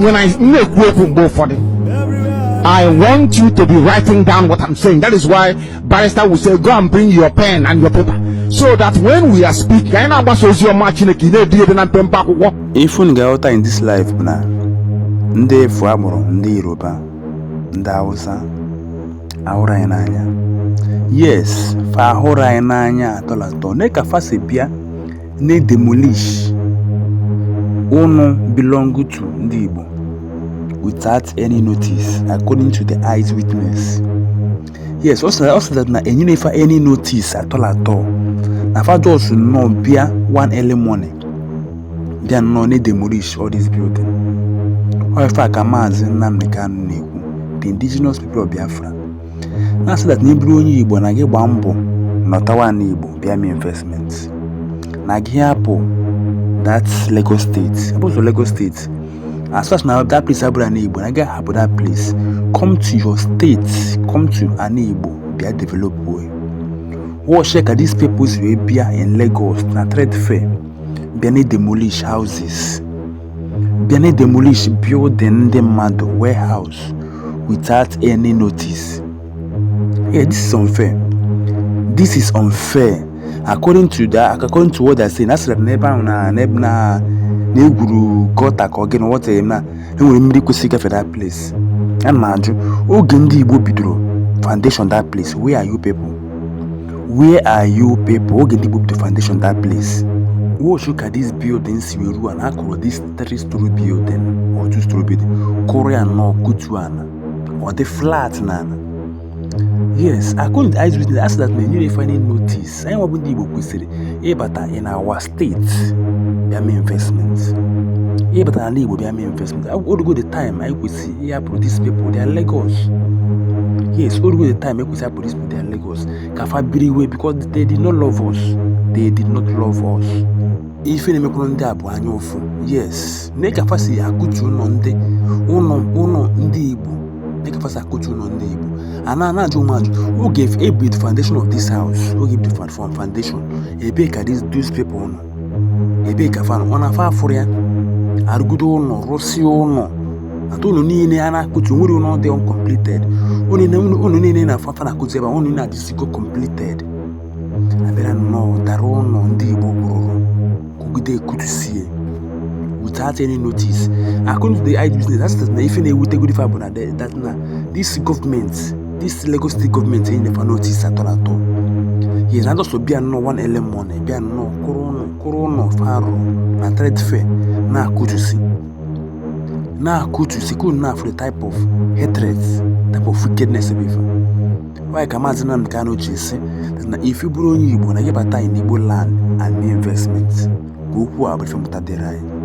when anyị na-ekwu okwu mgbe ụfọdụ I want you to be writing down what I'm saying. That is why barrister will say, go and bring your pen and your paper. So that when we are speaking, anyị na-agbasa ozi ọma Chineke ị na-ede ya ede na mpempe akwụkwọ. Ife unu ga-aghọta in this life bụ na ndị efu agbụrụ ndị Yoruba, ndị Hausa, ahụrọ anyị n'anya. Yes, fa ahụrọ anyị n'anya at all at all. Nee ka fa si bịa na-demolish ụnọ belong to ndị Igbo without any notice according to the eyes witness yes a sị that na enyerọ fa any notice at all at all na fa just nnọọ bịa one early morning bịa nnọọ na-edemolish all this building ọ ife a ka maazị Nnamdi Kanu na-ekwu the indigenous people of Biafra na so that na ị bụrụ onye Igbo na gị gbaa mbọ nọtawa ana Igbo bịa mee investment na gị hapụ that Lagos State because Lagos State as far as na that place abụrọ ana Igbo na gị hapụ that place come to your state come to ana Igbo bịa develop ya watch ka these people si wee bịa in Lagos na trade fair bịa na-demolish houses bịa na-demolish building ndị mmadụ warehouse without any notice yeah this is unfair this is unfair according to the according to what they're saying a sịrị na ebe ahụ na na ebe na na egwuru gọta ka ọ gịnị wọta ya na e nwere mmiri kwesịrị ịgafe that place ana m ajụ oge ndị Igbo bidoro foundation that place where are you people Where are you people? Oge ndị Igbo bidoro foundation that place. Watch ka this building si wee ruo ana a kụrụ this three story building or two story building kụrụ ya nnọọ kụtuo ana ọ dị flat na ana. Yes, according to eyewitness, a sị that na enyerọ fa any notice. Anyị nwa bụ ndị Igbo kwesịrị ịbata in our state bịa mee investment ịbata n'ana Igbo bịa mee investment o rugo the time anyị kwesịrị ịhapụrụ these people their Lagos yes o rugo the time e kwesịrị ịhapụrụ these people their Lagos ka fa biriwe because they did not love us they did not love us ife na-emekwuru ndị a bụ anya ụfụ yes nee ka fa si akụtu ụnọ ndị ụnọ ụnọ ndị Igbo nee ka fa si akụtu ụnọ ndị Igbo a na na-ajụ m ajụ oge fa bidoro foundation of this house oge fa bidoro from foundation ebee ka these these people nọ ebee ka fa nọ ọ na fa afụrọ ya a rụgide ụnọ rụsịa ụnọ and ụnọ niine a na-akụtu nwerọ ụnọ dị uncompleted ụnọ niine a fa fa na-akụtu ebe a, ụnọ niine adịsịgo completed abịara nnọọ ụtara ụlọ ndị Igbo kwụrụ kwugide akụtusie without any notice according to ndị business that state na ife na-ewutegodi fa bụ na the- that na this government this Lagos state government enyerọ fa notice at all at all yes na just bịa nnọọ one early morning bịa nnọọ kwụrụ ụlọ kwụrụ ụlọ fa rụrụ na trade fair na-akụtusi na-akụtusi kwụrụ na-afụ the type of hatred type of wickedness ebe ife Why ka Maazị Nnamdi Kanu ji sị na if ị bụrụ onye Igbo na gị bata in Igbo land and mee investment ka okwu a bụ ife mmụta dịrị anyị